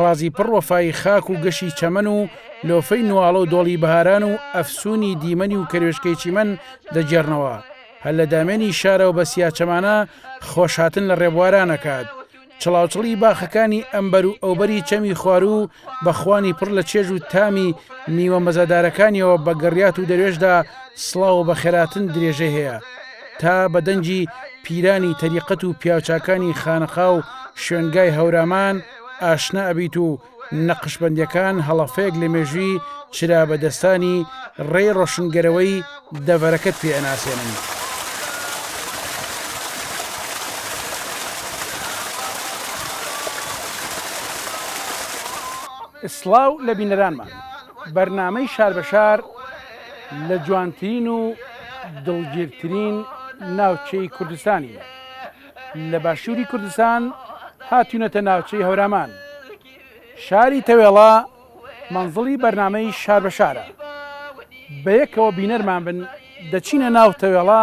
ڕازی پڕ وەفای خاک و گەشی چەمەن و لۆفەی نواڵە و دۆڵی بەهاران و ئەفسوونی دیمەنی و کەروێشکەی چیمەن دەگێڕنەوە. هەر لە دامێنی شارەوە بە سیاچەمانە خۆشهاتن لە ڕێبواران ئەکات. چڵاوچڵی باخەکانی ئەمبەر و ئەوبەری چەمی خواروو بە خوانی پڕ لە چێژ و تامی میوە مەزەدارەکانیەوە بە گڕیات و دەروێشدا سڵاو و بەخێرهاتن درێژەی هەیە. تا بە دەنگی پیرانی تەریقەت و پیاوچاکانی خانەقا و شوێنگای هەورامان ئاشنا ئەبیت و نەقشبەندەکان هەڵەفەیەک لە مێژوی چرا بە دەستانی ڕێی ڕۆشنگەرەوەی دەڤەرەکەت پێ ئەناسێنن. سڵاو لە بینەرانمان بەرنامەی شار بە شار. لە جوانترین و دڵگیرترین ناوچەی کوردستانین. لە باشووری کوردستان هاتوینەتە ناوچەی هەورامان. شاری تەوێڵە مەنزڵی بەرنامەی شار بە شارە. بەیەکەوە بینەرمان بن دەچینە ناو تەوێڵە،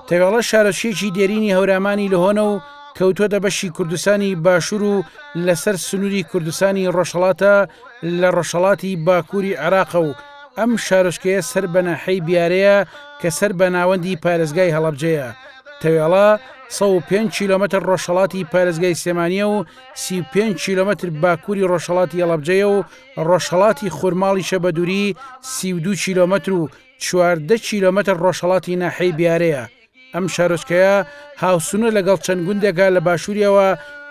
تەوێڵە شارۆچکەیەکی دێرینی هەورامانی لهۆنە و کەوتووەتە بەشی کوردستانی باشوور و لەسەر سنووری کوردستانی ڕۆژهەڵاتە لە ڕۆژهەڵاتی باکووری عێراقە و ئەم شارۆچکەیە سەر بە ناحیەی بیارەیە کە سەر بە ناوەندی پارێزگای هەڵەبجەیە تەوێڵە 105 کیلومتر ڕۆژهەڵاتی پارێزگای سلێمانیە و 35 کیلومتر باکووری ڕۆژهەڵاتی هەڵەبجەیە و ڕۆژهەڵاتی خورماڵیشە بە دووری 32 کیلومتر و چواردە کیلۆمەتر ڕۆژهەڵاتی ناحیەی بیارەیە، ئەم شارۆچکەیە هاوسنوورە لەگەڵ چەند گوندێکا لە باشووریەوە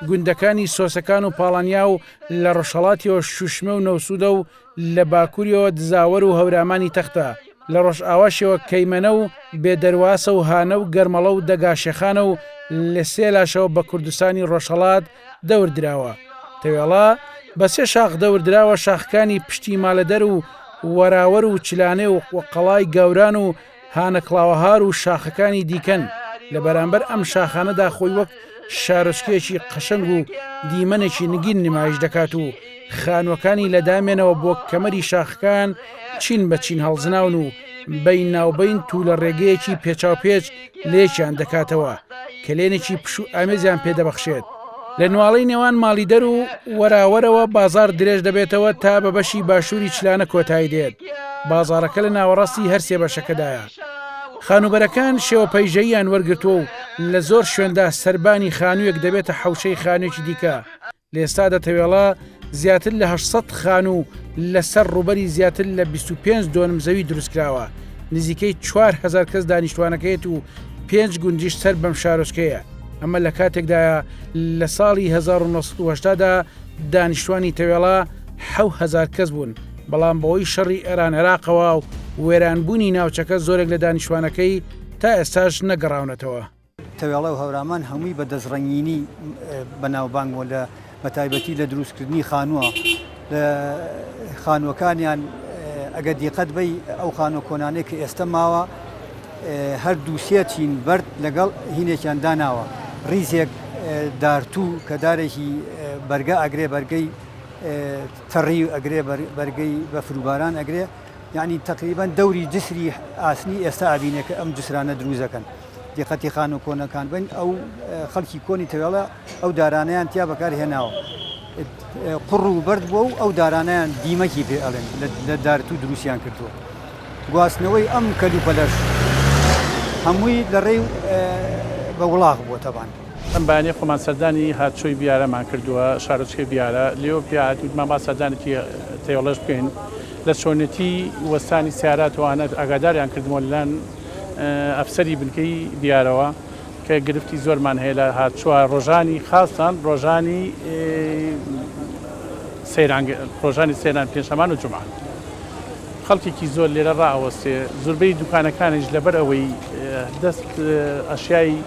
گوندەکانی سۆسەکان و پاڵانیا و لە ڕۆژهەڵاتیەوە شوشمێ و نەوسوودە و لە باکووریەوە دزاوەر و هەورامانی تەختە لە ڕۆژئاواشیەوە کەیمەنە و بێدەرواسە و هانە و گەرمەڵە و دەگاشێخانە و لە سێلاشەوە بە کوردستانی ڕۆژهەڵات دەور دراوە، تەوێڵە بە سێ شاخ دەور دراوە، شاخەکانی پشتی مالەدەر و وەراوەر و چلانێ و قەڵای گاوران و هانە کڵاوەهار و شاخەکانی دیکەن، لە بەرامبەر ئەم شاخانەدا خۆی وەک شارۆچکەیەکی قەشەنگ و دیمەنێکی نگین نمایش دەکات و خانووەکانی لە دامێنەوە بۆ کەمەری شاخەکان چین بە چین هەڵزناون و بەیناوبەین توولەڕێگەیەکی پێچاوپێچ لێکیان دەکاتەوە، کەلێنێکی پشوو ئامێزیان پێ دەبەخشێت. لە نواڵەی نێوان ماڵیدەر و وەراوەرەوە بازاڕ درێژ دەبێتەوە تا بە بەشی باشووری چلانە کۆتایی دێت، بازاڕەکە لە ناوەڕاستی هەر سێ بەشەکەدایە. خانووبەرەکان شێوە پەیژەییان وەرگرتووە و لە زۆر شوێندا سەربانی خانوویەک دەبێتە حەوشەی خانوویەکی دیکە، لە ئێستادا تەوێڵە زیاتر لە هەشت سەد خانوو لە سەر ڕووبەری زیاتر لە بیست و پێنج دۆنم زەوی دروستکراوە، نزیکەی چوار هەزار کەس دانیشتووانەکەیەت و پێنج گوندیش سەر بەم شارۆچکەیە، ئەمە لە کاتێکدایە لە ساڵی هەزار و نۆ سەد و هەشتا دا دانیشتووانی تەوێڵە حەو هەزار کەس بوون، بەڵام بەهۆی شەڕی ئێران-عێراقەوە و وێرانبوونی ناوچەکە زۆرێک لە دانیشتووانەکەی تا ئێستاش نەگەڕاونەتەوە. تەوێڵە و هەورامان هەمووی بە دەستڕەنگینی بەناوبانگ بوون لە بەتایبەتی لە دروستکردنی خانووە لە خانووەکانیان ئەگە دیقەت بی ئەو خانوە کۆنانێک کە ئێستا ماوە هەر دووسێ چین بەرد لەگەڵ هینێکیان داناوە ریزێک دارتوو کە دارێکی بەرگە ئەگرێ بەرگەی تەڕی و ئەگرێ بەرگەی بە فروباران ئەگرێ یعنی تقریبان دەوری جسری ئاسنی ئێستا ئابینێکە ئەم جسرانە دروزەکەن. دقەتی خانوە کۆنەکان بن ئەو خەلکی کۆنی تەوێڵە ئەو دارانەیان تیا بەکار هێناوە قوڕ و بەرد بووە و ئەو دارانیان دیمەکی پێ ئەڵێن لە دارت و دروستیان کردووە گواستنەوەی ئەم کەلوپەلەش هەمووی لە ڕێی بە وڵاخ بووە تەبان. ئەم بەیانیە خۆمان سەردانی هاتشۆی بیارەمان کردووە شارۆچکەی بیارە لێو پیا هاتین گوتمان با سەردانێکی تەیۆڵەش بکەین لە چۆنێتی وەستانی سیارات و ئانەت ئاگاداریان کردمەوە لەلایەن ئەفسەری بنکەی دیارەوە کە گرفتی زۆرمان هەیە لە هات چوار ڕۆژانی خاستان ڕۆژانی سەیران ڕۆژانی سێران پێشەمان و جمعە خەڵکێکی زۆر لێرە ڕاوەستێ زوربەی دوکانەکانیش لەبەر ئەوەی دەست ئەشیایی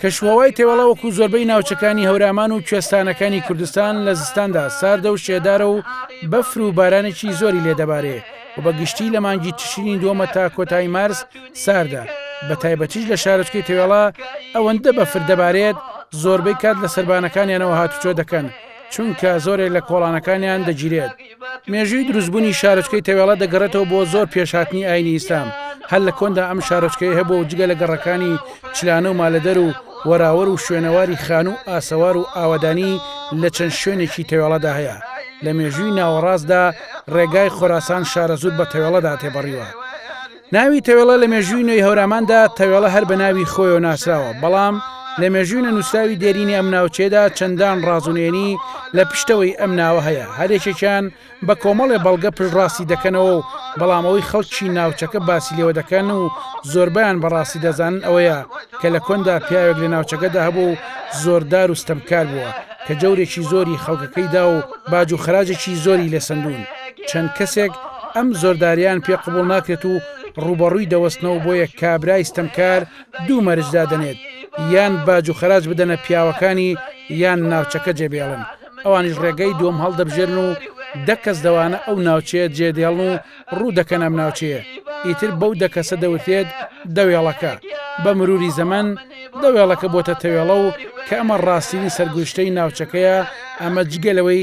کەشوهەوای تەوێڵە وەکوو زۆربەی ناوچەکانی هەورامان و کوێستانەکانی کوردستان لە زستاندا ساردە و شێدارە و بەفر و بارانێکی زۆری لێ دەبارێ و بە گشتی لە مانگی تشرینی دووەمە تا کۆتایی مارس ساردە بە تایبەتیش لە شارۆچکەی تەوێڵە ئەوەندە بەفر دەبارێت زۆربەی کات لە سەربانەکانیانەوە هاتوچۆ دەکەن چونکە زۆرێک لە کۆڵانەکانیان دەگیرێت مێژووی دروستبوونی شارۆچکەی تەوێڵە دەگەڕێتەوە بۆ زۆر پێش هاتنی ئاینی ئیسلام هەر لە کۆندا ئەم شارۆچکەی هەبوو و جگە لە گەڕەکانی چلانە و مالەدەر و وەراوەر و شوێنەواری خان و ئاسەوار و ئاوادانی لە چەند شوێنێکی تەوێڵەدا هەیە لە مێژووی ناوەڕاستدا ڕێگای خۆراسان شارەزوور بە تەوێڵەدا تێپەڕیوە ناوی تەوێڵە لە مێژووی نوێی هەوراماندا تەوێڵە هەر بە ناوی خۆیەوە ناسراوە بەڵام لە مێژووی نەنووسراوی دێرینی ئەم ناوچەیەدا چەندان ڕاز و نێنی لە پشتەوەی ئەم ناوە هەیە هەرێکێکیان بە کۆمەڵێ بەڵگە پشتڕاستی دەکەنەوە و بەڵام ئەوەی خەڵکی ناوچەکە باسی لێوە دەکەن و زۆربیان بەڕاستی دەزانن ئەوەیە کە لە کۆندا پیاوێک لە ناوچەکەدا هەبوو و زۆردار و ستەمکار بووە کە جەورێکی زۆری خەڵکەکەیدا و باج و خراجێکی زۆری لێ سندون چەند کەسێک ئەم زۆرداریان پێ قبوڵ ناکرێت و ڕوبەڕووی دەوەستنەوە بۆیە کابرای ستەمکار دوو مەرج دادەنێت یان باج و خەراج بدەنە پیاوەکانی یان ناوچەکە جێبێڵن ئەوانیش ڕێگەی دووەم هەڵدەبژێرن و دەکەس دەوانە ئەو ناوچەیە جێدێڵن و ڕوو دەکەن ئەم ناوچەیە ئیتر بەو دەکەسە دەوترێت دەوێڵەکە بە مروری زەمن دەوێڵەکە بۆتە تەوێڵە و کە ئەمە ڕاستترین سەرگوشتەی ناوچەکەیە ئەمە جگەلەوەی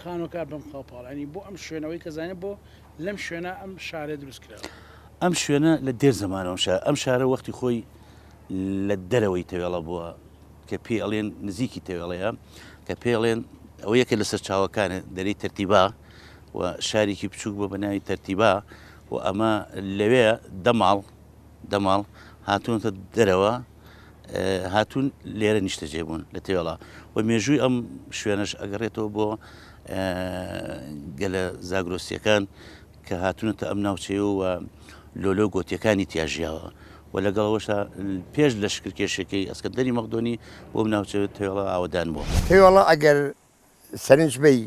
خانوەکە بم خاو پاڵانی بۆ ئەم شوێنەوەی کە زانێت بۆ لەم شوێنە ئەم شارە دروست کراوە. ئەم شوێنە لە دێر زەمانەوەم شارە ئەم شارە وەختی خۆی لە دەرەوەی تەوێڵە بووە کە پێی ئەڵێن نزیکی تەوێڵەیە کە پێڵێن ئەوە یەکە لە سەرچاوەکانە دەری تەرتیبا و شارێکی بچووک بۆ بە ناوی تەرتیبا و ئەمە لەوێ دەماڵ دەماڵ هاتوونەتە دەرەوە هاتوون لێرە نیشتەجێ بوون لە تێوەڵا و مێژووی ئەم شوێنەش ئەگەڕێتەوە بۆ گەلە زاگرۆسیەکان کە هاتوونەتە ئەم ناوچەیە و لۆلۆ گۆتیەکانی تیاژیاوە و لەگەڵەوەشە پێش لە شکرکێشەکەی ئەسکەندەری مەقدۆنی بۆ ناوچە تێوەڵا ئاوەدان بووە تێوەڵا ئەگەر سەرنج بی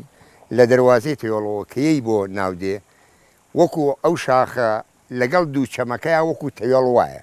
لە دەواازەی تێوەڵەوەکەی بۆ ناودێ وەکو ئەو شاخە لەگەڵ دوو چەمەکەی وەکو تەوێڵ وایە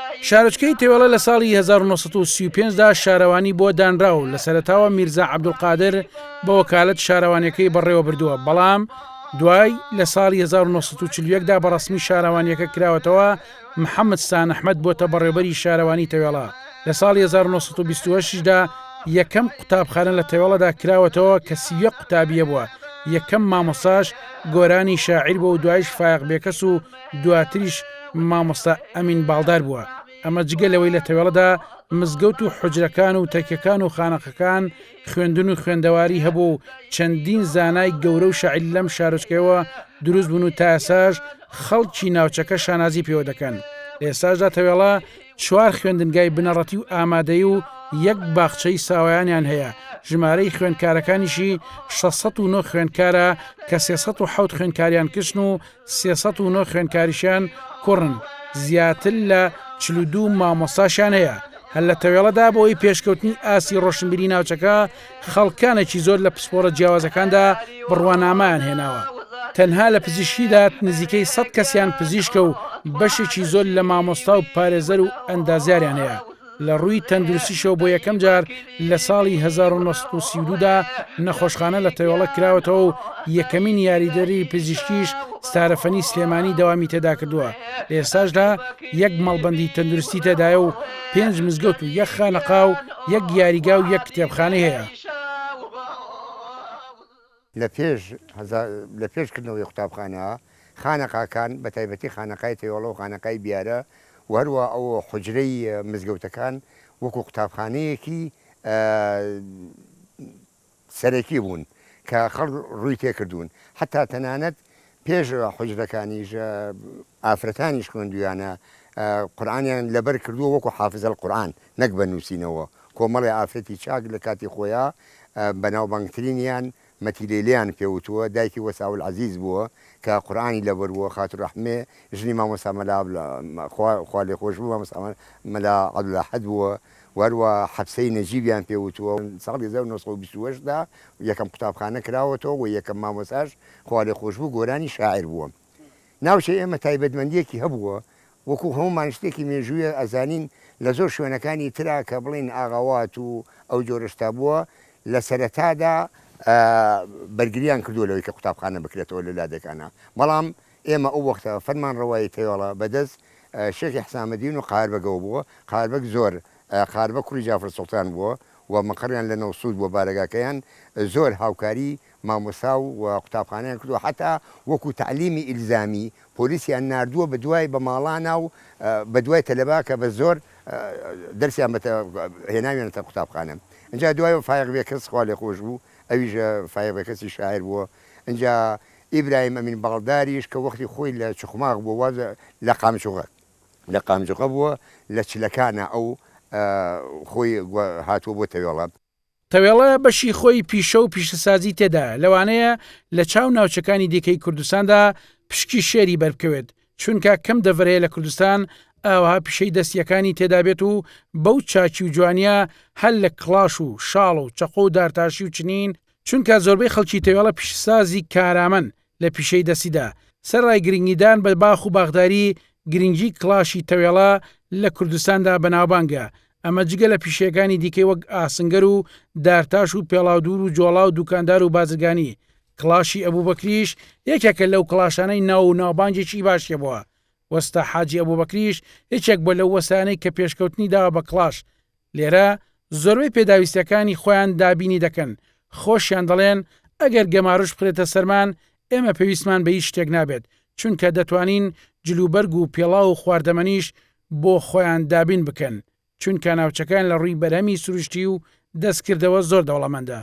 شارۆچکەی تێوەڵە لە ساڵی 1935 دا شارەوانی بۆ دانرا و لە سەرەتاوە میرزا عەبدولقادر بە وەکالەت شارەوانیەکەی بەڕێوە بردووە بەڵام دوای لە ساڵی 1940 دا بە ڕسمی شارەوانیەکە کراوەتەوە محەممەد سان ئەحمد بۆتە بەڕێوبەری شارەوانی تەوێڵە لە ساڵی 1920 دا یەکەم قوتابخانە لە تەوێڵەدا کراوەتەوە کە سیە قوتابیە بووە یەکەم مامۆساش گۆرانی شاعیر بۆ و دوایش فایق بێکەس و دواتریش مامۆستا ئەمین باڵدار بووە، ئەمە جگە لەوەی لە تەوێڵەدا مزگەوت و حوجرەکان و تەکیەکان و خانەقەکان خوێندن و خوێندەواری هەبووە و چەندین زانای گەورە و شاعیر لەم شارۆچکەیەوە دروست بوون و تائێساش خەڵکی ناوچەکە شانازی پێوە دەکەن لەئێستاشدا تەوێڵە چوار خوێندنگای بنەڕەتی و ئامادەی و یەک باخچەی ساوایانیان هەیە ژمارەی خوێندکارەکانیشی 609 خوێندکارە کە 307 خوێندکاریان کچن و سێ سەد و نۆ خوێندکاریشیان کوڕن، زیاتر لە چل و دوو مامۆستاشیان هەیە، هەر لە تەوێڵەدا بەوەی پێشکەوتنی ئاستی ڕۆشنبیری ناوچەکە خەڵکانێکی زۆر لە پسپۆڕە جیاوازەکاندا بڕوانامەیان هێناوە، تەنها لە پزیشکیدا نزیکەی سەد کەسیان پزیشکە و بەشێکی زۆر لە مامۆستا و پارێزەر و ئەندازیاریان هەیە. لە ڕووی تەندروستیشەوە بۆ یەکەم جار لە ساڵی هەزار و نۆ سەد و سی و دوو دا نەخۆشخانە لە تەیۆڵە کراوەتەوە و یەکەمین یاریدەری پزیشکیش ستارەفەنی سلێمانی دەوامی تێدا کردووە لە ئێستاشدا یەک مەڵبەندی تەندروستی تێدایە و پێنج مزگەوت و یەک خانەقا و یەک یاریگا و یەک کتێبخانەی هەیە. لە پێش هەزار لە پێش کردنەوەی قوتابخانە، خانەقاکان، بە تایبەتی خانەقای تەیۆڵە و خانەقای بیارە و هەروا ئەو حوجرەی مزگەوتەکان وەکوو قوتابخانەیەکی سەرەکی بوون کە خەڵک ڕووی تێ کردوون. حەتتا تەنانەت پێش حوجرەکانیش ئافرەتانیش خوێندویانە قورآانیان لەبەر کردووە وەکو حافزەل قورآان نەک بە نووسینەوە کۆمەڵی ئافرەتی چاک لە کاتی خۆیان بەناوبانگترینیان مەتیلەیلیان پێوتووە دایکی وەساول عەزیز بووە کە قورآانی لەبەرووە خاتو ڕەحمێ ژنی مامۆستا مەلا خوالێخۆشبوو مامۆستا مەلا عەبدولئەحەد بووە و هەروا حەپسەی نەجیبیان پێ وتووە. ساڵی هەزار و نۆ سەد و بیست و هەشت دا یەکەم قوتابخانە کراوەتەوە و یەکەم مامۆستاش خوالێخۆشبوو گۆرانی شاعیر بووە. ناوچەی ئێمە تایبەتمەندییەکی هەبووە، وەکوو هەموومان شتێکی مێژوویە ئەزانین لە زۆر شوێنەکانی ترا کە بڵێین ئاغاوات و ئەو جۆرە شتا بووە لە سەرەتادا بەرگرییان کردووە لەوەی کە قوتابخانە بکرێتەوە لە لادێکانا بەڵام ئێمە ئەو وەختە فەرمانڕەوایی فەیۆڵە بە دەست شێخی حسامەدین و قاربەگەوە بووە، قاربەگ زۆر، قاربە کوڕی جافر سوڵتان، بووە و مقەڕیان لە نەوسوود بووە، بارەگاکەیان زۆر هاوکاری مامۆستا و قوتابخانەیان کردووە، حەتا وەکوو تەعلیمی ئیلزامی پۆلیسیان ناردووە بە دوای بە ماڵانا و بە دوای تەلەبە کە بە زۆر دەرسیان بە هێناویانەتە قوتابخانە. ئنجا دوایەوە فایەق بێکەس خوا لێخۆش بوو، ئەویش فایەق بێکەسی شاعیر بووە، ئنجا ئیبراهیم ئەمین باڵداریش کە وەختی خۆی لە چخماخ بووە واز لە قامچغە لە قامچغە بووە لە چلەکانا ئەو خۆی هاتووە بۆ تەوێڵە. تەوێڵە بەشی خۆی پیشە و پیشەسازی تێدایە لەوانەیە لە چاو ناوچەکانی دیکەی کوردستاندا پشکی شێری بەربکەوێت چونکە کەم دەڤەر هەیە لە کوردستان ئاوها پیشەی دەست یەکانی تێدابێت و بەو چاکی و جوانیە هەر لە کڵاش و شاڵ و چەقۆ و دارتاشی و چنین چونکە زۆربەی خەڵکی تەوێڵە پیشەسازی کارامەن لە پیشەی دەستیدا، سەرەڕای گرنگیدان بە باخ و باخداری، گرنگی کڵاشی تەوێڵە لە کوردستاندا بەناوبانگە، ئەمە جگە لە پیشەیەکانی دیکەی وەک ئاسنگەر و دارتاش و پێڵاودوور و جۆڵا و دوکاندار و بازرگانی، کڵاشی ئەبوبەکریش یەکێکە لەو کڵاشانەی ناو و ناوبانگێکی باشی هەبووە، وەستا حاجی ئەبوبەکریش یەکێک بووە لەو وەستایانەی کە پێشکەوتنی داوە بە کڵاش، لێرە زۆربەی پێداویستیەکانی خۆیان دابینی دەکەن، خۆشیان دەڵێن ئەگەر گەمارۆش بخرێتە سەرمان ئێمە پێویستمان بە هیچ شتێک نابێت، چونکە دەتوانین جلوبەرگ و پێڵاو و خواردەمەنیش بۆ خۆیان دابین بکەن، چونکە ناوچەکەیان لە ڕووی بەرهەمی سروشتی و دەستکردەوە زۆر دەوڵەمەندە.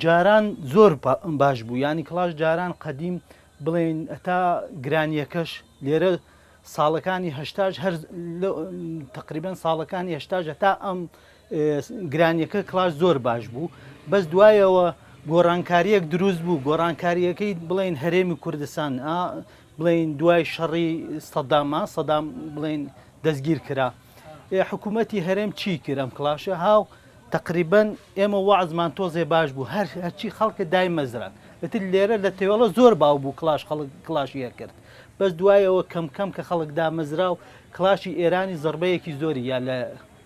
جاران زۆر باش بوو ینی کلاش جاران قەدیم بڵێن ئەتا گرانیەکەش لێرە ساڵەکانی هشتاش هەر تقریبان ساڵەکانی هشتاش هەتا ئەم گرانیەکە کڵاش زۆر باش بوو بەس دوایەوە گۆڕانکاریەک دروست بوو گۆڕانکاریەکەی بڵین هەرێمی کوردستان بڵین دوای شەڕی سەداما سەدام بڵین دەستگیر کرا حکوومەتی هەرێم چی کرد ئەم کلاشە هاو تقریبن ئێمە وازمان تۆزێ باش بوو هەر هەرچی خەڵکە دای مەزران ئەتر لێرە لە تێوەڵە زۆر باو بوو کلاش خەڵک کلاشیە کرد بەس دوایەوە کەم کەم کە خەڵک دامەزرا و کلاشی ئێرانی زربەیەکی زۆری یا لە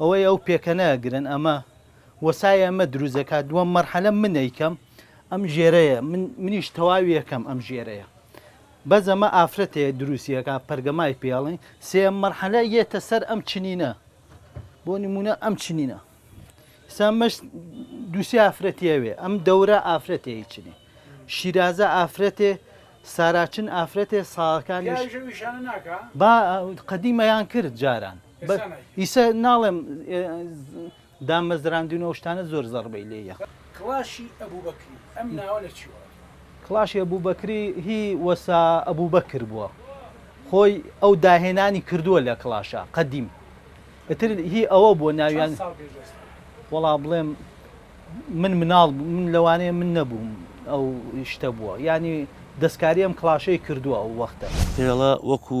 ئەوەی ئەو پێکەنە ئەگرن ئەمە وەسای ئەمە دروست دەکات دووەم مەرحەلە من ئەیکەم ئەم ژێرەیە منیش تەواوی یەکەم ئەم ژێرەیە بەس ئەمە ئافرەتەیە دروستیەکە پەرگەمای پێڵین سێم مەرحەلە یێتە سەر ئەم چنینە بۆ نمونە ئەم چنینە سامەش دووسی ئافرەتیەوێ ئەم دەورە ئافرەتێ چنی شیرازە ئافرەتێ ساراچن ئافرەتێ ساڵەکانی با قەدیمەیان کرد جاران ئیسە ناڵێم دامەزراندنەوەشتانە زۆر زەڕبەی لێە کڵاشی ئەبوو بەکری ئەم ناوە لە چوە کڵاشی ئەبوو بەکری هی وەسا ئەبوو بەکر بووە خۆی ئەو داهێنانی کردووە لە کڵاشە قەدیم ئەتر هی ئەوە بووە ناویان وەڵا بڵێم من مناڵ من لەوانەیە من نەبووم ئەو شتە بووە ینی دەستکاری ئەم کلاشەی کردووە ئەو وەختە هێڵە وەکو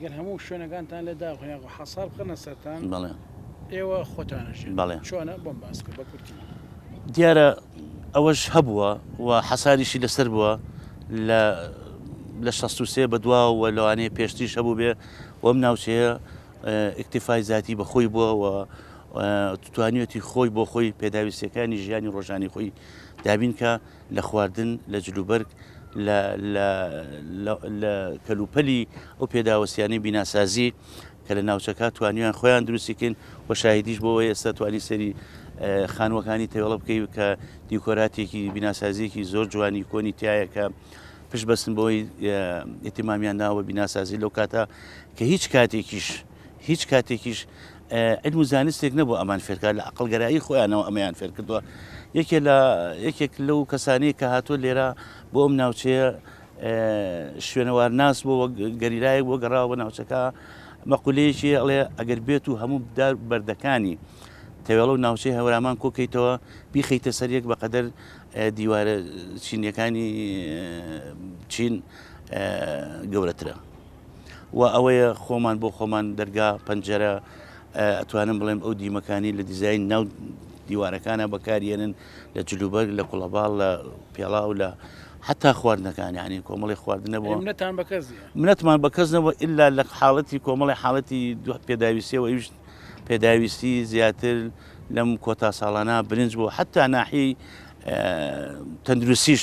گەر هەموو شوێنەکانتان لە داخ یاخۆ حەسار بخەنە سەران بەڵێ ئێوە خۆتانەژ بەڵێ چۆنە بۆم باسکە بە کورتی دیارە ئەوەش هەبووە و حەساریشی لەسەر بووە لە لە 16 بە دوا و لەوانەیە پێشتیش هەبوو بێ وەم ناوچەیە ئیکتیفای زیاتی بەخۆی بووە و توانیەتی خۆی بۆ خۆی پێداویستەکانی ژیانی ڕۆژانی خۆی دابینکە لە خواردن، لە جلوبەرگ، لە لە لە لە کەلوپەلی ئەو پێداوستیانەی بیناسازی کە لە ناوچەکە توانیان خۆیان دروستی کەین و شاهیدیش بۆ ئەوەی ئێستا توانی سەری خانووەکانی تێوەڵە بکەی کە دیکۆراتێکی بیناسازیەکی زۆر جوانی کۆنی تایە کە پشت بەستن بۆی ئتیمامیان ناوە بیناسازی لەو کاتە کە هیچ کاتێکیش هیچ کاتێکیش علم و زانستێک نەبوو ئەمان فێرکار لە عقلگەرایی خۆیانەوە ئەمەیان فێر کردووە یەکێ لە یەکێک لەو کەسانی کە هاتووە لێرە بۆ ئەم ناوچەیە شوێنەوار ناس بۆ گەریلایەک بۆ گەڕاوە بە ناوچەکە مەقولەیەکی ئەڵێ ئەگەر بێت و هەموو بدار بەردەکانی تەوێڵە و ناوچەی هەورامان کۆکەیتەوە بیخیتە سەر یەک بەقەدەر دیوارە چینیەکانی چین گەورەترە و ئەوەیە خۆمان بۆ خۆمان دەرگا پەنجەرە ئەتوانم بڵێم ئەو دیمەکانی لە دیزین ناو دیوارەکانە بەکارێنن لە جلوبەرگ لە کوڵەباڵ لە پێڵاو لە حتا خواردنەکانی عنی کۆمەڵی خواردنە بۆ منەتان بەکەس منەتمان بەکەس نەوە ئللا لە حاڵەتی کۆمەڵی حاڵەتی دو پێداویستەوە ئەوش پێداویستی زیاتر لەم کۆتا ساڵانە برنج بۆ حتا ناحی تەندروسیش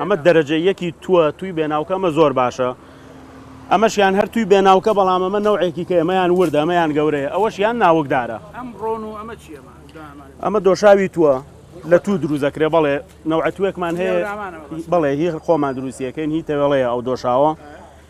ئەمە دەرەجە یەکی تووە تووی بێناوکە ئەمە زۆر باشە ئەمەش یان هەر تووی بێناوکە بەڵام ئەمە نەوعێکی کە ئەمەیان وردە ئەمەیان گەورەیە ئەوەش یان ناوکدارە ئەمە دۆشاوی تووە لە تو دروزەکرێ بەڵێ نەوعەتوێکمان هەیە بەڵێ هی خۆمان دروستیەکەین هی تەوێڵەیە ئەو دۆشاوە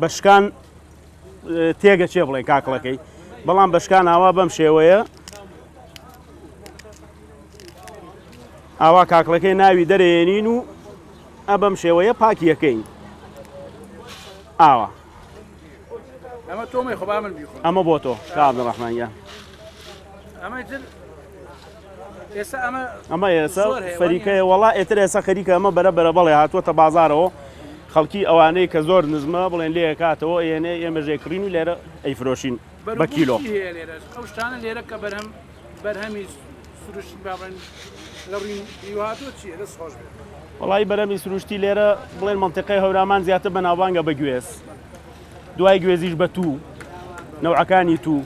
بەشکان تێگە چێ بڵێ کاکڵەکەی بەڵام بەشکان ئاوا بەم شێوەیە ئاوا کاکڵەکەی ناوی دەرێنین و ئە بەم شێوەیە پاکیەکەین ئاوا ئەمە بۆ تۆ شاد ڕحمانە ئەمە ئەمە ئێسە فەریکەیە وەڵا ئێتر ئێسە خەریکە ئەمە بەرە بەرە بەڵێ هاتووەتە بازارەوە خەڵکی ئەوانەی کە زۆر نزمە بڵێن لێ کاتەوە ئێنێ ئێمە ژێکڕین و لێرە ئەیفرۆشین بە کیلۆ شتانە لێرە کە بەرهەم بەرهەمی سروشت بابن لە ڕووی هاتووە چیە دەست خۆش بێت وڵی بەرەمی سروشتی لێرە بڵێن منتیقی هەورامان زیاتر بەناوانگە بەگوێز دوای گوێزیش بە توو، نەوعەکانی توو،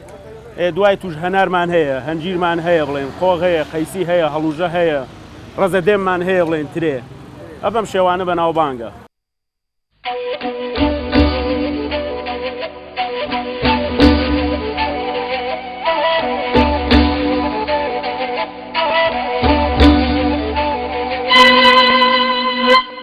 ە، دوای تووش هەنارمان هەیە، هەنجیرمان هەیە بڵێن، قۆغ هەیە، قەیسی هەیە، هەڵوژە هەیە، ڕەزە دێممان هەیە بڵێن، ترێ، ە بەم شێوانە بەناوبانگە.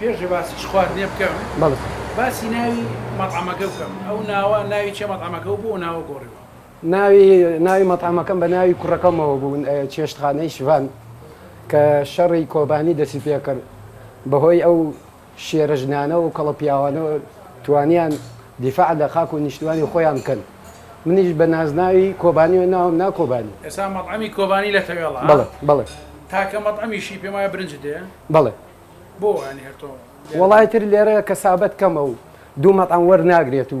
پێشێ باسی چ خواردنێ بکەم باسی ناوی مەتعمەکە بکەم ئەو ناوە ناوی چێ مەتعمەکە و بۆ ناوە گۆڕیوە ناوی ناوی مەتعەمەکەم بە ناوی کوڕەکەمەوە بوو چێشتخانەی شڤان کە شەڕی کۆبانی دەسی پێکرد بەهۆی ئەو شێرە ژنانە و کەڵە پیاوانەوە توانیان دیفاع لە خاک و نیشتمانی خۆیان بکەن منیش بە نازناوی کۆبانیەوە ناوم نا کۆبانی. ئێستا مەتعەمی کۆبانی لە تەوێڵە ها؟ بەڵێ بەڵێ. تاکە مەتعەمیشی پێم وایە برنج دێ؟ بەڵێ. بۆ یانی هەر تۆ؟ وەڵای تر لێرە کەسابەت کەمە و دوو مەتعەم وەرناگرێت و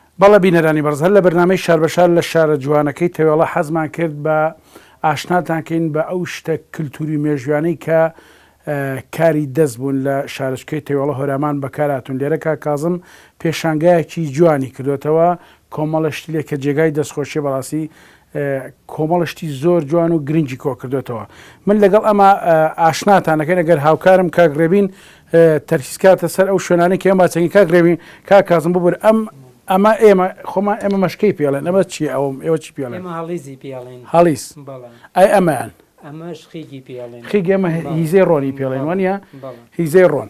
بەڵێ بینەرانی بەڕز هەر لە بەرنامەی شار بە شار لە شارە جوانەکەی تەوێڵە حەزمان کرد بە ئاشناتان کەین بە ئەو شتە کلتوری و مێژویانەی کە کاری دەست بوون لە شارچکەی تەوێڵە هۆرامان بەکار هاتوون لێرە کاک کازم پێشانگایەکی جوانی کردۆتەوە کۆمەڵە شتی لێ کە جێگای دەستخۆشیە بەڕاستی کۆمەڵە شتی زۆر جوان و گرنگی کۆکردۆتەوە من لەگەڵ ئەمە ئاشناتان نەکەین ئەگەر هاوکارم کاک ڕێبین تەرکیز کاتە سەر ئەو شوێنانی کە ئێمە چەنگی کاک ڕێبین کا کازم ببور ئەم ئەمە ئێمە خۆمان ئێمە مەشکەی پێڵێن ئەمە چی ئەوم ئێوە چی پێڵێن ئێمە هەڵیزی پێڵێن هەڵیز بەڵێ ئای ئەمەیان ئەمەش خیگی پێڵێن خیگ ئێمە هە- بەڵێ. هیزەی ڕۆنی پێڵێن بەڵێ، وانە بەڵێ. هیزەی ڕۆن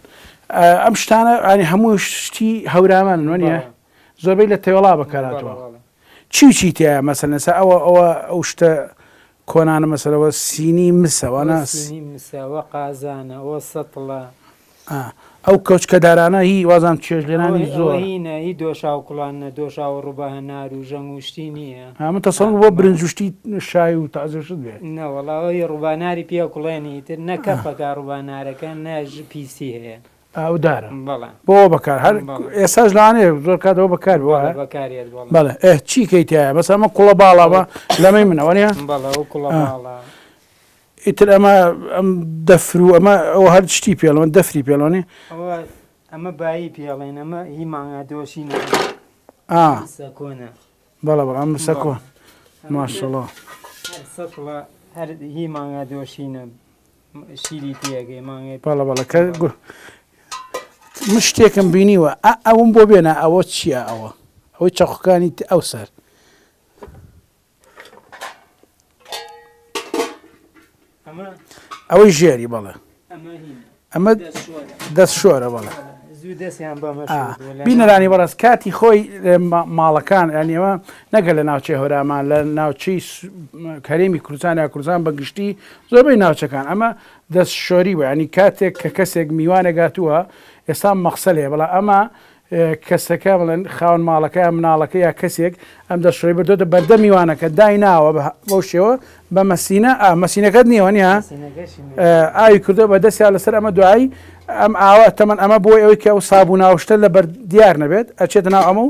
ئا، ئەم شتانە ئەنی هەموو شتی هەورامان وانە بەڵێ. زۆربەی لە تەوێڵا بەکاراتوە بەڵێ، بەڵێ. چی و چی تیایە مەسەلەن ئێستا ئەوە ئەوە ئەو شتە کۆنانە مەسەلەن ئەوە سینی مسە ئەوە وانە سینی مسە ئەوە قازانە ئەوە سەتڵە. ئا ئەو کەوچکە دارانە هی وازام چێژ ئەوە لێنانی ئەوە زۆرە. هینە هی دۆشاو کوڵانە دۆشاو و ڕوبە هەنار و ژەنگ و شتی نیە ها من ئا تەسەوڕم بۆ برنج و شتی شای و تازە و شت بێ. نەوەڵا ئەوەی ڕوباناری پێ ئەکوڵێن ئیتر نە کەفەکە ڕوبانارەکە نە ژ پیسی هەیە. ئاودارە بەڵێ بۆ بەکار هەر ئێساش لانێ زۆر کات ئەوە بەکار بەڵێ ئە چی کەیتایە بەس ئەمە کوڵە باڵاوە لەمەی منەوە نیە ئیتر ئەمە ئەم دەفر و ئەمە ئەو هەر شتی پێڵەوە دەفری پێڵۆنی ئەمە بایی پێڵێن ئەمە هی ماگا دۆشین بەڵە بەڵام سەکۆن ماشڵە هەر هی ماگا دۆشینە شیری تێگەی مانگێ بەڵە بەڵە کە من شتێکم بینیوە ئەوم بۆ بێنە ئەوە چییە ئەوە ئەوەی چەقەکانی ئەو سەر ئەوەی ژێری بەڵێ ئەمە دەست شۆرە بەڵێ بینەرانی بەڕاست کاتی خۆی ماڵەکان ئەنیەوە نەگە لە ناوچەی هۆرامان لە ناوچەی کەرێمی کوردستان یا کوردستان بەگشتی زۆربەی ناوچەکان ئەمە دەست شۆری بە ینی کاتێک کە کەسێک میوانەگاتووە ئێستا مەقسە لێ بەڵا ئەمە کەسەکە بڵێن خاون ماڵەکە یا مناڵەکە یا کەسێک ئەم دەست شۆری بردۆتە بەردە میوانەکە دای ناوە بەو شێوە بە مەسینە ئا مەسینەکەت نیوەنیا ئاوی کردو بە دەستیا لەسەر ئەمە دوایی ئەم ئاوا تەمەن ئەمە بۆی ئەوەی کە ئەو سابوو ناوشتە لە بەر دیار نەبێت ئەچێت ناو ئەمە و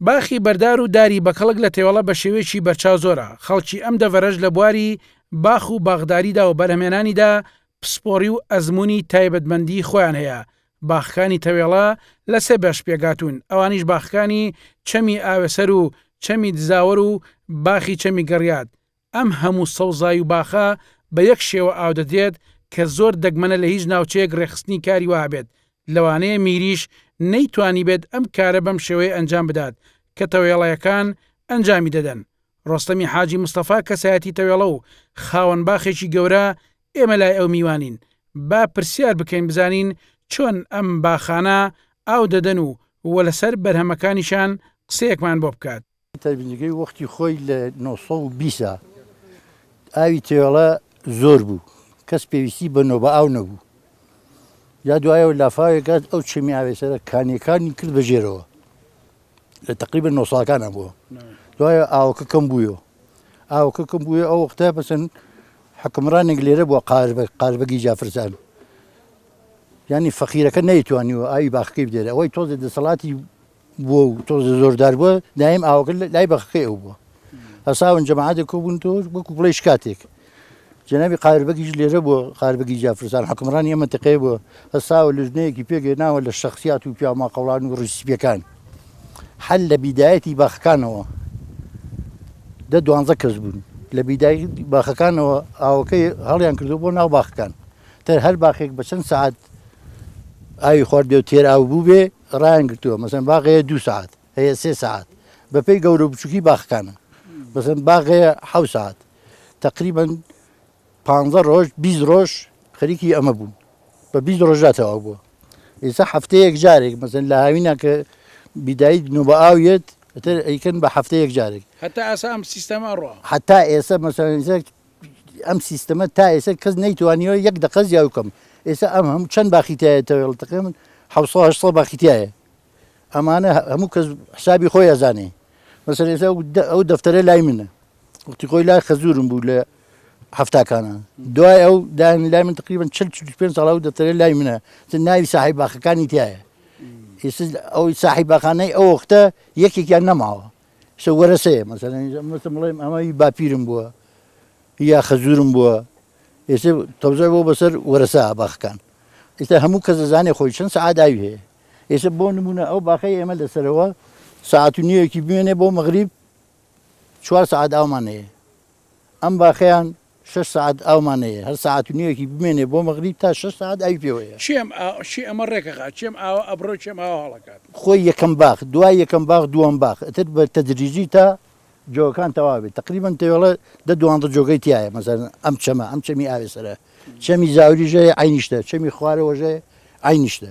باخی بەردار و داری بەکەڵک لە تێوەڵە بە شێوەیەکی بەرچاو زۆرە، خەڵکی ئەم دەڤەرەش لە بواری باخ و باخداریدا و بەرهەمێنانیدا پسپۆڕی و ئەزموونی تایبەتمەندیی خۆیان هەیە، باخەکانی تەوێڵە لە سێ بەش پێکهاتوون، ئەوانیش باخەکانی چەمی ئاوێسەر و چەمی دزاوەر و باخی چەمی گڕیات، ئەم هەموو سەوزای و باخە بە یەک شێوە ئاو دەدرێت کە زۆر دەگمەنە لە هیچ ناوچەیەک رێکخستنی کاری وەها بێت، لەوانەیە میریش نەیتوانیبێت ئەم کارە بەم شێوەیە ئەنجام بدات کە تەوێڵەیەکان ئەنجامی دەدەن. رۆستەمی حاجی مستەفا کەسایەتی تەوێڵە و خاوەن باخێکی گەورە، ئێمە لای ئەو میوانین، با پرسیار بکەین بزانین چۆن ئەم باخانە ئاو دەدەن و وە لەسەر بەرهەمەکانیشان قسەیەکمان بۆ بکات. تەڤلیگەی وەختی خۆی لە نۆ سەد و بیست ئاوی تێوێڵە زۆر بوو کەس پێویستی بە نۆ بە ئاو نەبوو یا دوایەوە لافاوێک گات ئەو چێمی ئاوێ سەرە کانیەکانی کرد بەژێرەوە لە تقریبە نۆ ساڵەکانە بووە دوایە ئاوکە کەم بووە ئاوکە کەم بووە ئەو وەختە بەسن حکمڕانێک لێرە بووە قار بە قاربەگی جافرزان ینی فەقیرەکە نەیتوانیوە ئاوی باخەکەی بدێت ئەوەی تۆزێ دەسەڵاتی بووە و تۆزێ زۆردار بووە، دایم ئاوەکە لای بەخەکەی ئەو بووە. هەساون جەماعەتێک کۆ بوون تۆ وەکو بڵێی شکاتێک. جەنابی قاهر بەگیش لێرە بووە، قاهر بەگی جافرزان حوکمڕانی ئەم مەنتقەیە بووە، هەساوە لیژنەیەکی پێک هێناوە لە شەخسیات و پیاو ماقەوڵان و ڕیش سپییەکان. هەر لە بیدایەتی باخەکانەوە دە دوانزە کەس بوون، لە بیدایەتی باخەکانەوە ئاوەکەی هەڵیان کردووە بۆ ناو باخەکان. تە هەر باخێک بە چەند سەعات ئاوی خواردبێ و تێر ئاو بووبێ، ڕایان گرتووە مەسەن باغەیە دوو سەعات هەیە سێ سەعات بەپێی گەورە بچووکی باخکانە مەسەن باغەیە حەو سەعات تەقریبەن پ ڕۆژ بی ڕۆژ خەریکی ئەمە بوون بە بی ڕۆژدا تەوا بووە ئێستا هەفتەیەک جارێک مەسەن لە هاوینا کە بیدایت نۆ بە ئاویێت ئەتر ئەیکەن بە هەفتەیەک جارێک هەتا ئاسا ئەم سیستەمە ڕۆ هەتا ئێستا مەسەن ئەم سیستەمە تا ئێستا کەس نەیتوانیوە یەک دەقە زیاوی بکەم ئێستا ئەم هەموو چەند باخی تایە تەوێڵ تەقێ من حەوسە هەشسە باخی تایە ئەمانە هە- هەموو کەس حسابی خۆی ئەزانێ مەسەر ئێستا ئەو دە- ئەو دەفتەرە لای منە وەختی خۆی لای خەزورم بوو لە هەفتاکانە دوای ئەو دایان لای من تقریبا 40 پێ ساڵ ئەو دەفتەرە لای منە چ ناوی ساحی باخەکانی تایە ئێستا ئەوەی ساحی باخانەی ئەو وەختە یەکێکیان نەماوە سە وەرەسەیە مەسەلەن ئینجا مەسە بڵێم ئەمە هی باپیرم بووە یا خەزورم بووە ئێستا تەوزای بۆ بەسەر وەرەسە باخەکان ئێستا هەموو کەس دەزانێ خۆی چەند سەعات ئاوی هەیە ئێستا بۆ نمونە ئەو باخەی ئێمە لەسەرەوە ساعت و نیوێکی بمێنێ بۆ مەغریب چوار سەعات ئاومان هەیە ئەم باخەیان شەش سەعات ئاومان نەیە هەر سەعات و نیوێکی بمێنێ بۆ مەغریب تا شەش سەعات ئاوی پێوە یە. کێم ئا کێ ئەمە ڕێک ئەخا کێم ئاوا ئەبڕێ و کێم ئاوا هەڵەکات؟ خۆی یەکەم باخ دوای یەکەم باخ دووەم باخ ئەتر بە تەدریجی تا جۆگەکان تەوا بێت تەقریبەن تێوەڵە دە دوانزە جۆگەی تیایە مەسەلەن ئەم چەمە ئەم چەمی ئاوێسەرە چەمی زاوریش هەیە عەینیش تە چەمی خوارەوەش هەیە عەینیش تە.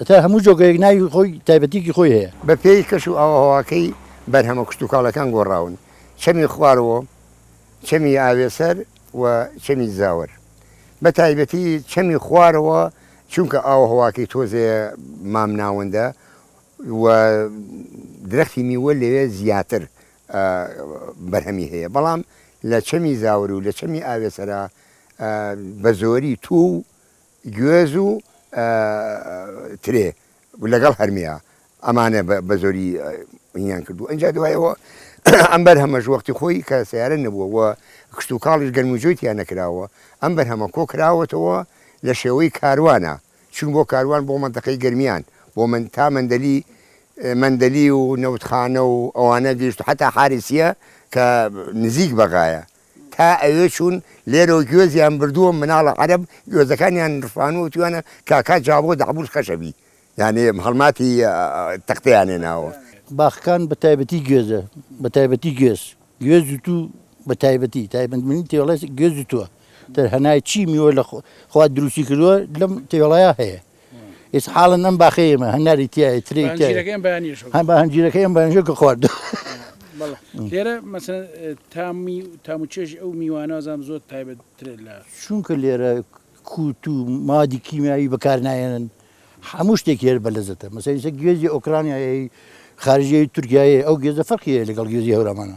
هەتا هەموو جۆگەیەک ناوی خۆی تایبەتیکی خۆی هەیە. بە پێی کەش و ئاووهەواکەی بەرهەمە کشتوکاڵەکان گۆڕاون، چەمی خواروۆ، چەمی ئاوێسەر و چەمی زاوەر. بە تایبەتی چەمی خوارەوە چونکە ئاووهەواکەی تۆزێ مامناوەندە و درەختی میوە لەوێ زیاتر بەرهەمی هەیە بەڵام لە چەمی زاوەر و لە چەمی ئاوێسەرا بە زۆری توو و گوێز و ترێ لەگەڵ هەرمێا ئەمانە بە زۆری هینیان کردووە ئینجا دوایەوە ئەم بەرهەمەش وەختی خۆی کە سیارە نەبووە و کشتوکاڵیش گەرموجۆی تیا نەکراوە ئەم بەرهەمە کۆ کراوەتەوە لە شێوەی کاروانە چوون بۆ کاروان بۆ مەنتەقەی گەرمیان بۆ من تا مەندەلی مەندەلی و نەوتخانە و ئەوانە گەیشت حەتا حارسیە کە نزیک بەغایە تا ئەوێ چوون لێرەوە گوێزیان بردووە مناڵە عەرەب گوێزەکانیان رفانووە وتویانە کاکا جابۆ دەعبوس خەشەبی یانی هەڵماتی تەختەیان هێناوە. باخکان بە تایبەتی گوێزە بە تایبەتی گوێز گوێز و توو بە تایبەتی تایبەتمەنی تێوەڵێ گوێز و تووە تەر هەنای چی میوە لە خوا دروستی کردووە لەم تێوەڵەیا هەیە. ئیس حاڵن ئەم باخی ئێمە هەناری تایە تری هەنجیرەکە ئەم بەنجە کە خوارد لێرە مەسن تامی تام و چێژی ئەو میوانازان زۆر تایبەت ترێت لە چونکە لێرە کووت و مادی کیمیایی بەکار نایەنن هەموو شتێک هێر بە لەزەتە مەسەریسە گوێزی ئۆکرانیایی خارجی تورکایە ئەو گێزە فەرقیە لەگەڵ گێزی هەورامانە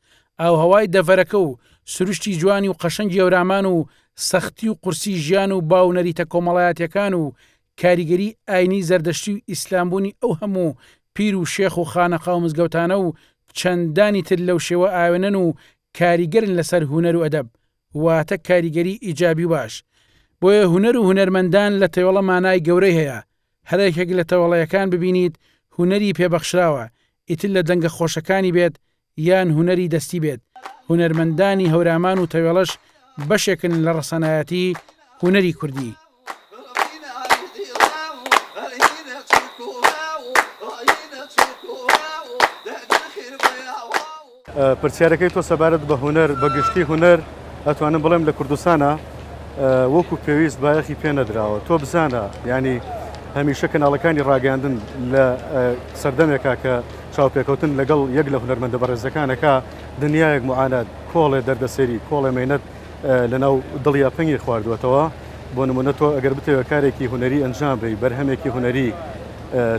ئاوهەوای دەڤەرەکە و سروشتی جوانی و قەشەنگی هەورامان و سەختی و قورسی ژیان و با و نەریتە کۆمەڵایەتیەکان و کاریگەری ئاینی زەردەشتی و ئیسلام بوونی ئەو هەموو پیر و شێخ و خانەقا و مزگەوتانە و چەندانی تر لەو شێوە ئاوێنەن و کاریگەرن لەسەر هونەر و ئەدەب واتە کاریگەری ئیجابی و باش بۆیە هونەر و هونەرمەندان لە تەوێڵە مانای گەورەی هەیە هەر یەکێک لە تەوێڵەیەکان ببینیت هونەری پێ بەخشراوە ئیتر لە دەنگە خۆشەکانی بێت یان هونەری دەستی بێت، هونەرمەندانی هەورامان و تەوێڵەش بەشێکن لە ڕەسەنایەتی هونەری کوردی. پرسیارەکەی تۆ سەبارەت بە هونەر بە گشتی هونەر ئەتوانم بڵێم لە کوردستانە وەکو پێویست بایەخی پێ نەدراوە تۆ بزانە ینی هەمیشە کەناڵەکانی ڕاگەاندن لە سەردەمێکا کە چاوپێکەوتن لەگەڵ یەک لە هونەرمەندە بەڕێزەکانەکا دنیایەک معانات، کۆڵێ دەردەسەری، کۆڵێ مەینەت لەناو دڵیا پەنگی خواردووەتەوە. بۆ نموونە تۆ ئەگەر بتەوێ کارێکی هونەری ئەنجام بەی، بەرهەمێکی هونەری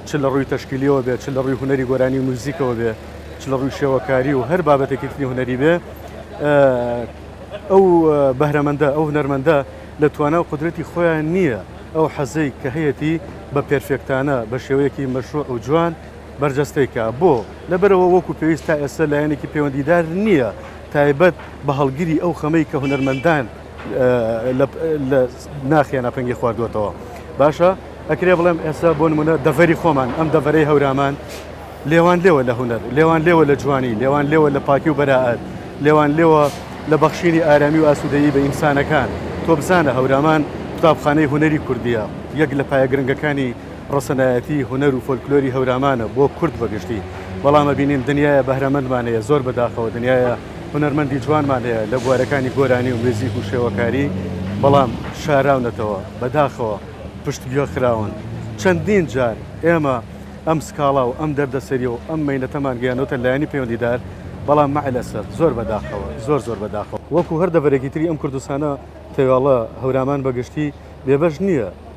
چ لە ڕووی تەشکیلییەوە بێ، چ لە ڕووی هونەری گۆرانی و میوزیکەوە بێ، چ لە ڕووی شێوەکاری و هەر بابەتێکی تری هونەری بێ، ئەو بەهرەمەندە، ئەو هونەرمەندە لە توانا و قودرەتی خۆیا نییە ئەو حەزەی کە هەیەتی بە پێرفێکتانە، بە شێوەیەکی مەشرووع و جوان، بەرجەستەی کا. بۆ؟ لەبەرئەوە وەکو پێویست تا ئێستا لایەنێکی پەیوەندیدار نییە تایبەت بە هەڵگری ئەو خەمەی کە هونەرمەندان لە ناخیانا پەنگی خواردووەتەوە. باشە ئەکرێ بڵێم ئێستا بۆ نمونە دەڤەری خۆمان ئەم دەڤەرەی هەورامان لێوان لێوە لە هونەر، لێوان لێوە لە جوانی، لێوان لێوە لە پاکی و بەرائەت، لێوان لێوە لە بەخشینی ئارامی و ئاسوودەیی بە ئینسانەکان. تۆ بزانە هەورامان قوتابخانەی هونەری کوردییە، یەک لە پایە گرنگەکانی. ڕەسەنایەتی هونەر و فۆلکلۆری هەورامانە بۆ کورد بە گشتی بەڵام ئەبینین دنیایە بەهرەمەندمان هەیە زۆر بەداخەوە دنیایە هونەرمەندی جوانمان هەیە لە بوارەکانی گۆرانی و میوزیک و شێوەکاری بەڵام شاراونەتەوە بەداخەوە پشتگوێ خراون چەندین جار ئێمە ئەم سکاڵا و ئەم دەردەسەری و ئەم مەینەتەمان گەیانۆتە لایەنی پەیوەندیدار بەڵام مع الاسف زۆر بەداخەوە زۆر زۆر بەداخەوە وەکو هەر دەڤەرێکی تری ئەم کوردستانە تەواڵە هەورامان بە گشتی بێبەش نییە.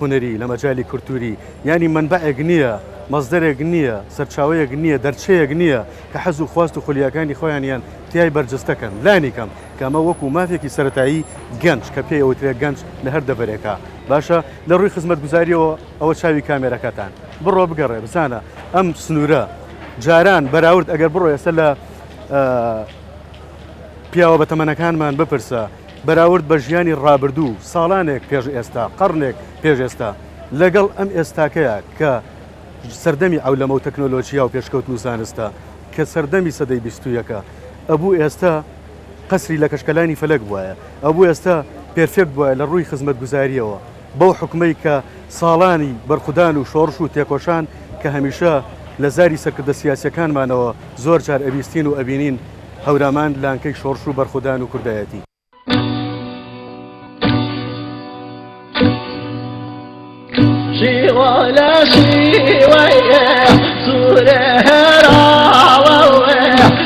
هونەری، لە مەجالی کولتووری، یانی مەنبەعێک نییە، مەسدەرێک نییە، سەرچاوەیەک نییە، دەرچەیەک نییە کە حەز و خواست و خولیاکانی خۆیانیان تیای بەرجستە کەن، لانیکەم کە ئەمە وەکوو مافێکی سەرەتایی گەنج کە پێی ئەوترێ گەنج لە هەر دەڤەرێکا باشە لە ڕووی خزمەتگوزارییەوە ئەوە چاوی کامێرەکەتان بڕۆ بگەڕێ بزانە ئەم سنوورە جاران بەراورد ئەگەر بڕۆ ئێستا لە پیاوە بەتەمەنەکانمان بپرسە بەراورد بە ژیانی ڕابردوو، ساڵانێک پێش ئێستا، قەڕنێک پێش ئێستا، لەگەڵ ئەم ئێستاکەیە کە سەردەمی عەولەمە و تەکنۆلۆژیا و پێشکەوتن و زانستە، کە سەردەمی سەدەی بیستویەکە، ئەبوو ئێستا قەسری لە کەشکەلانی فەلەک بوایە، ئەبوو ئێستا پێرفێکت بوایە لە ڕووی خزمەتگوزارییەوە. بەو حوکمەی کە ساڵانی بەرخودان و شۆڕش و تێکۆشان کە هەمیشە لە زاری سەرکردە سیاسیەکانمانەوە زۆر جار ئەبیستین و ئەبینین هەورامان لانکەی شۆڕش و بەرخودان و کوردایەتی.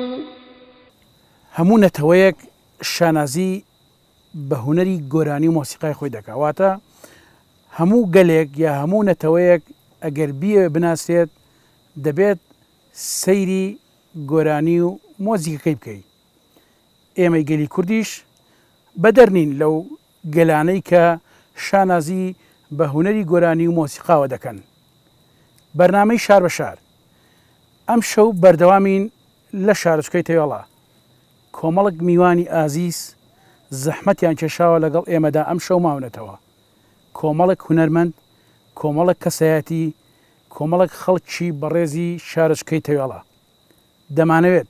و. هەموو نەتەوەیەک شانازی بە هونەری گۆرانی و مۆسیقای خۆی دەکا واتە هەموو گەلێک یا هەموو نەتەوەیەک ئەگەر بیەوێ بناسرێت دەبێت سەیری گۆرانی و مۆزیکەکەی بکەیت ئێمەی گەلی کوردیش بەدەر نین لەو گەلانەی کە شانازی بە هونەری گۆرانی و مۆسیقاوە دەکەن بەرنامەی شار بە شار ئەمشەو بەردەوامین لە شارۆچکەی تەوێڵە کۆمەڵک میوانی ئازیز زەحمەتیان کێشاوە لەگەڵ ئێمەدا ئەمشەو ماونەتەوە کۆمەڵک هونەرمەند کۆمەڵک کەسایەتی کۆمەڵک خەڵکی بەڕێزی شارۆچکەی تەوێڵە دەمانەوێت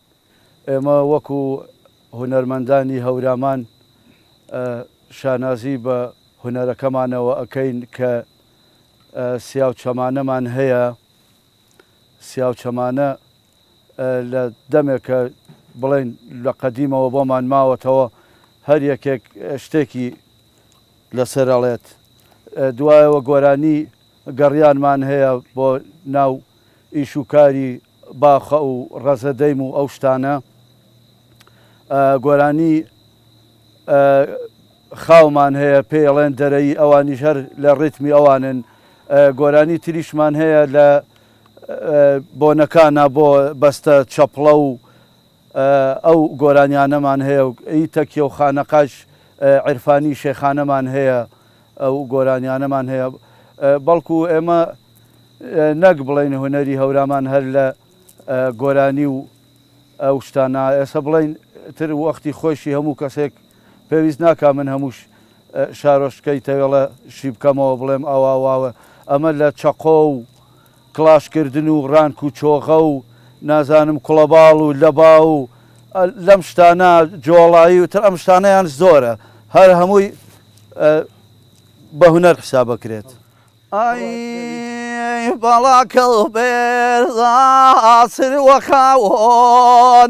ئێمە وەکو هونەرمەندانی هەورامان شانازی بە هونەرەکەمانەوە ئەکەین کە سیاوچەمانەمان هەیە، سیاوچەمانە لە دەمێکە بڵێین لە قەدیمەوە بۆمان ماوەتەوە هەر یەکێک شتێکی لەسەر ئەڵێت. دوایەوە گۆرانی گەڕیانمان هەیە بۆ ناو ئیش و کاری باخە و ڕەزە دەیم و ئەو شتانە گۆرانی خاومان هەیە پێی ئەڵێن دەرەیی ئەوانیش هەر لە ڕیتمی ئەوانن گۆرانی تریشمان هەیە لە بۆنەکانە بۆ بەستە چەپڵە و ئەو گۆرانیانەمان هەیە و ئی تەکیە و خانەقاش عرفانی شێخانەمان هەیە ئەو گۆرانیانەمان هەیە بەڵکو ئێمە نەک بڵێین هونەری هەورامان هەر لە گۆرانی و ئەو شتانە ئێستا بڵێین تر وەختی خۆشی هەموو کەسێک پێویست ناکا من هەمووش شارۆشتکەی تەوێڵە شی بکەمەوە بڵێم ئەوە واوە ئەمە لە چەقۆ و کڵاش کردن و ڕانک و چۆغە و نازانم کوڵەباڵ و لەبا و لەم شتانە جۆڵایی و تر ئەم شتانەیان زۆرە هەر هەمووی بە هونەر حساب بکرێت. ئەی بەڵا کەڵبێرزا سروە خاوۆن.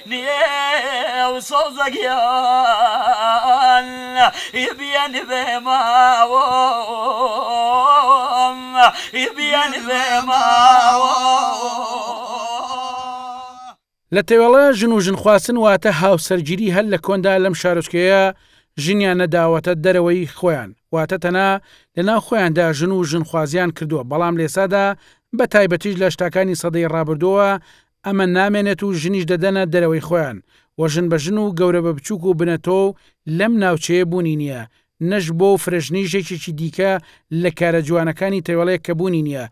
نێو سەوزە گیان ی بیەن بێ ماوم ی بیەن بێ ماوم. لە تەوێڵە ژن و ژنخواستن واتە هاوسەرگیری هەر لە کۆندا لەم شارۆچکەیە ژنیان نەداوەتە دەرەوەی خۆیان واتە تەنها لە ناو خۆیاندا ژن و ژنخوازیان کردووە بەڵام لەێسادا بە تایبەتیش لە شتاکانی سەدەی ڕابردووە ئەمە نامێنێت و ژنیش دەدەنە دەرەوەی خۆیان و ژن بە ژن و گەورە بە بچووک و بنەتۆو لەم ناوچەیە بوونی نییە، نەش بۆ و فرەژنیش یەکێکی دیکە لە کارە جوانەکانی تەوێڵەیەک کە بوونی نییە،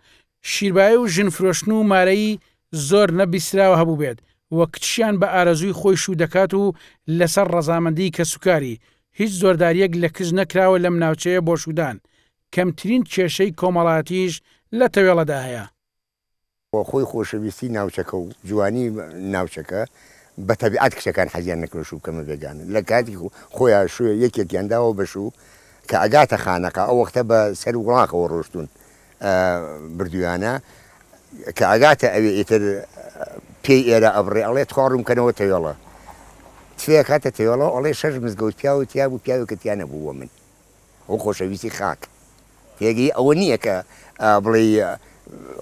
شیربایی و ژن فرۆشتن و مارەیی زۆر نە بیستراوە هەبووبێت و کچیان بە ئارەزووی خۆی شوو دەکات و لەسەر ڕەزامەندیی کەسوکاری، هیچ زۆردارییەک لە کچ نەکراوە لەم ناوچەیە بۆ شوودان، کەمترین کێشەی کۆمەڵایەتییش لە تەوێڵەدا هەیە. و خۆی خۆشەویستی ناوچەکە و جوانی ناوچەکە بە تەبیعەت کچەکان حەزیان نەکرد شوو بکەمە بێگانە لە کاتی خۆیا شوو یەکێکیان داوە بە شوو کە ئەگاتە خانەقا ئەو وەختە بە سەر وڵاخەوە ڕۆشتوون بردویانە کە ئەگاتە ئەوێ ئیتر پێی ئێرە ئەبڕێ ئەڵێ تخوا ڕووم کەنەوە تەوێڵە تفێ ئەکاتە تەوێڵەوە ئەڵێ شەش مزگەوت پیاوت تیابوو پیاوێکت تیا نەبوو وە من و خۆشەویستی خاک پێگەی ئەوە نییە کە بڵێی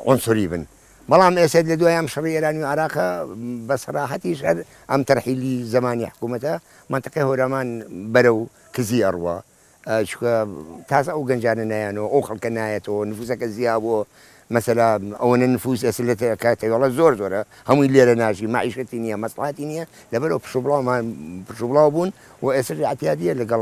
عونسوری بن. بەڵام ئێسێت لە دوای ئەم شەڕی ئێرانی و عراقە بە سەراحەتیش هەر ئەم تەرحیلی زەمانی حکوومەتە مەنتقی هۆرامان بەرەو کزی ئەڕوا چکە تازە ئەو گەنجانە نایەنەوە ئەو خەڵکە نایەتەوە نفوسەکە زیابووە مەسەلا ئەوەنە نفوس ئێستا لە کاتەوەڵە زۆر زۆرە هەمووی لێرە ناژی مەعیشەتی نییە مەسڵاتی نییە لەبەرەوە پشوبڵاومان پشوبڵاو بوون و ئێستا عتیادیە لەگەڵ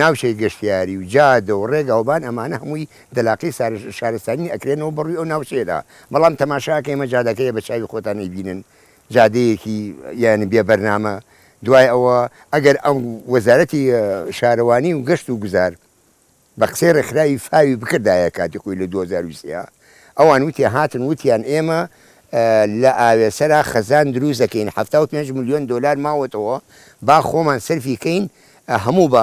ناوچەی گەشتیاری و جادە و ڕێگاوبان ئەمانە هەمووی دەلاقەی شارستانی ئەکرێنەوە بەڕووی ئەو ناوچەیەدا بەڵام تەماشاکە ئێمە جادەکەیە بە چاوی خۆتان ئەیبینن جادەیەکی یانی بێ بەرنامە دوای ئەوە ئەگەر ئەم وەزارەتی شارەوانی و گەشت و گوزار بە قسەی ڕێکخراوی فاوی بکردایە کاتی خۆی لە دوو هەزار و سێ ئەوان وتیان هاتن وتیان ئێمە لە ئاوێسەرا خەزان دروست دەکەین حەفتا و پێنج ملیۆن دۆلار ماوەتەوە با خۆمان سەرفی کەین هەموو بە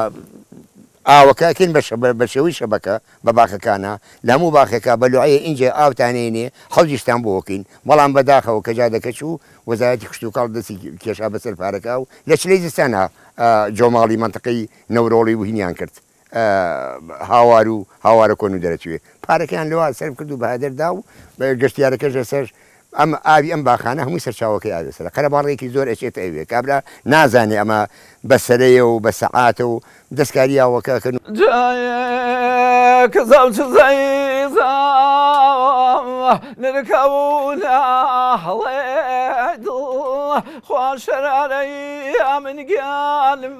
ئاوەکە ئەکەین بە شێوەی شەبەکە بە باخەکانا لە هەموو باخێکا بە لوعەیە ئینجا ئاوتان ئەینێ حەوزیشتان بۆ ئەکەین بەڵام بە داخەوە کە جادەکە چوو وەزارەتی کشتوکاڵ دەستی کێشا بەسەر پارەکە و لە چلەی زستانا جۆماڵی مەنتەقەی نەورۆڵی و هینیان کرد هاوار و هاوارە کۆن و دەرەچوێ پارەکەیان لەوە سەرف کرد و بەهەدەر دا و گەشتیارەکەش لەسەر ئەم ئاوی ئەم باخانە هەمووی سەرچاوەکەی ئاوێ سەرە قەرەباڵغێکی زۆر ئەچێتە ئەوێ کابرا نازانێ ئەمە بە سەرەیە و بە سەعاتە و دەستکاری ئاوەکە ئەکەن و جاێک زاو چزەی زاو نرکەوونە هەڵێ دڵ خوا شەرارەی ئەمن گیانم.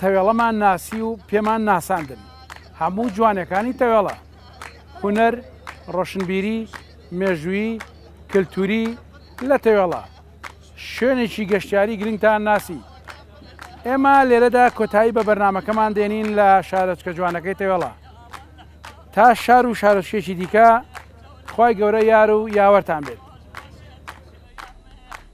تەوێڵەمان ناسی و پێمان ناساندن هەموو جوانەکانی تەوێڵە هونەر ڕۆشنبیری مێژووی کللتوری لە تەوێڵە شوێنێکی گەشتیاری گرنگتان ناسی ئێمە لێرەدا کۆتایی بە بەرنمەکەمان دێنین لە شارۆچکە جوانەکەی تەوێڵە تا شار و شارۆچکێکی دیکە خی گەورە یار و یاوەرتان بێت